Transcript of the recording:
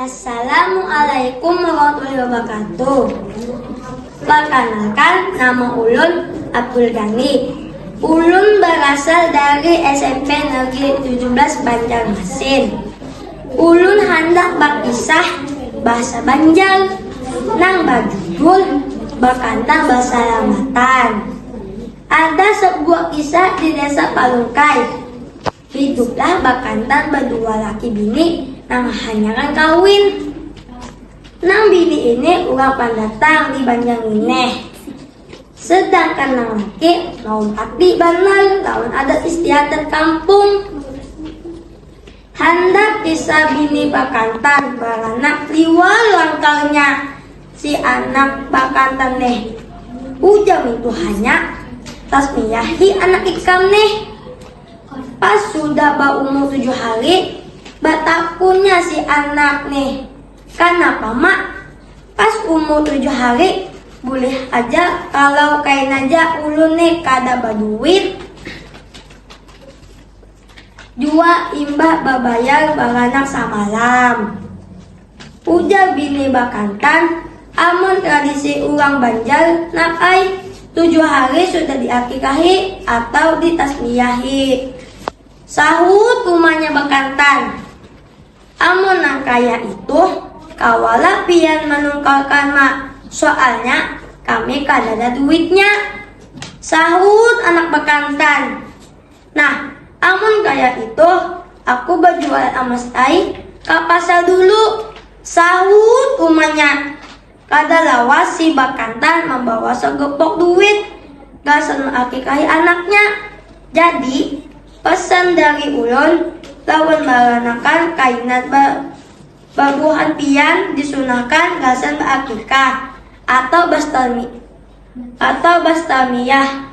Assalamualaikum warahmatullahi wabarakatuh. Perkenalkan, nama ulun Abdul Ghani. Ulun berasal dari SMP Negeri 17 Banjarmasin. Ulun handak berkisah bahasa Banjar nang berjudul Bakantang Basalamatan. Ada sabuah kisah di desa Palungkai. Hiduplah bakantan badua laki bini nang hanyaran kawin. Nang bini ini urang pandatang di Banjar Ngineh. Sedangkan nang laki maumpati banar lawan adat istiadat kampung. Handak di sabini bakantan baranak liwar langkarnya si anak bakantan neh. Ujar mintuhanya, Tasmiyahi anak ikam neh. Pas sudah baumur tujuh hari, batakunnya si anak neh, Kanapa ma, pas umur tujuh hari bulih haja kalau kainaja ulun neh kada baduit? Jua imbah babayar baranak samalam. Ujar bini bakantan, amun tradisi urang Banjar nak ai, tujuh hari sudah diakikahi atau ditasmiyahi. Sahut umanya bakantan, amun nang kaya ituh kawalah pian manungkalkan ma, soalnya kami kadada duitnya. Sahut anak bakantan. Nah, amun kaya itu, aku bajualan amas ai ka pasar dulu, sahut umanya. Kada lawas si Bakantan mambawa sagepok duit gasan maakikahi anaknya. Jadi, pesan dari ulun lawan maranakan kainan ba babuhan pian disunahkan gasan baakikah atau bastami atau bastamiyah.